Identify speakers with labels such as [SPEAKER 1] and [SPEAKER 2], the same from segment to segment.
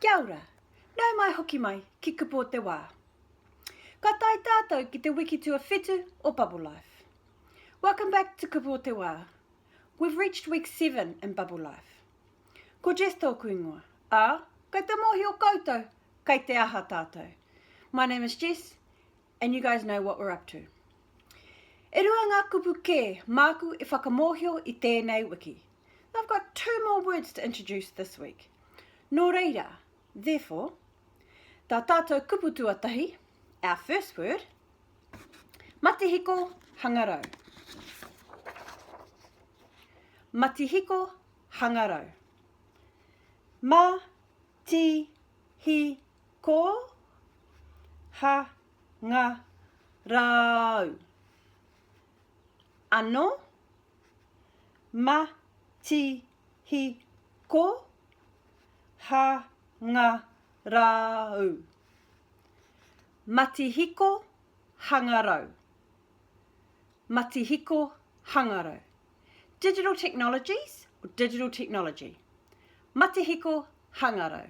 [SPEAKER 1] Kia ora! Nau mai hoki mai ki Kupo te Wā. Ka tae tātou ki te wiki tuawhitu o Bubble Life. Welcome back to Kupo te Wā. We've reached week seven in Bubble Life. Ko Jess tōku ingoa, ā, kei te mōhio koutou kei te aha tātou. My name is Jess and you guys know what we're up to. E rua ngā kupu kē māku e whakamōhio i tēnei wiki. Now I've got two more words to introduce this week. Nō reira, therefore, tā tātou kupu tuatahi, our first word, matihiko hangarau. Matihiko hangarau. Ma ti hi ko ha nga rau. Ano ma ti hi ko ha nga ra u Matihiko hangarau Matihiko hangarau Digital technologies or digital technology Matihiko hangarau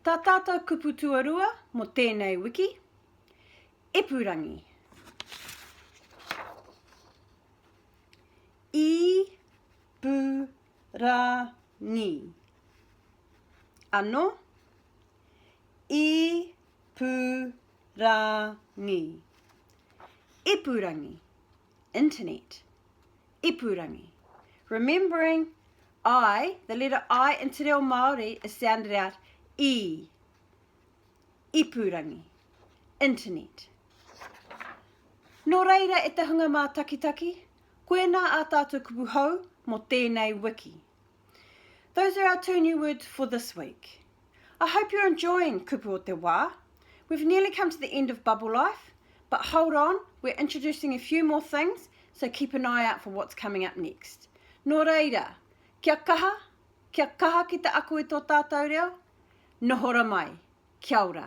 [SPEAKER 1] Ta tatou kupu tuarua mo tenei wiki Ipurangi I-pu-ra-ngi Ano I-pu-ra-ngi Ipurangi Internet Ipurangi Remembering I, the letter I in te reo Māori is sounded out E. ipurangi, internet. Nō reira e te hunga mātakitaki, koinā ā tātou kupu hou mō tēnei wiki. Those are our two new words for this week. I hope you're enjoying Kupu o te Wā. We've nearly come to the end of Bubble Life, but hold on, we're introducing a few more things, so keep an eye out for what's coming up next. Nō reira, kia kaha, Kia kaha ki te ako i tō tātou reo, nohora mai. Kia ora.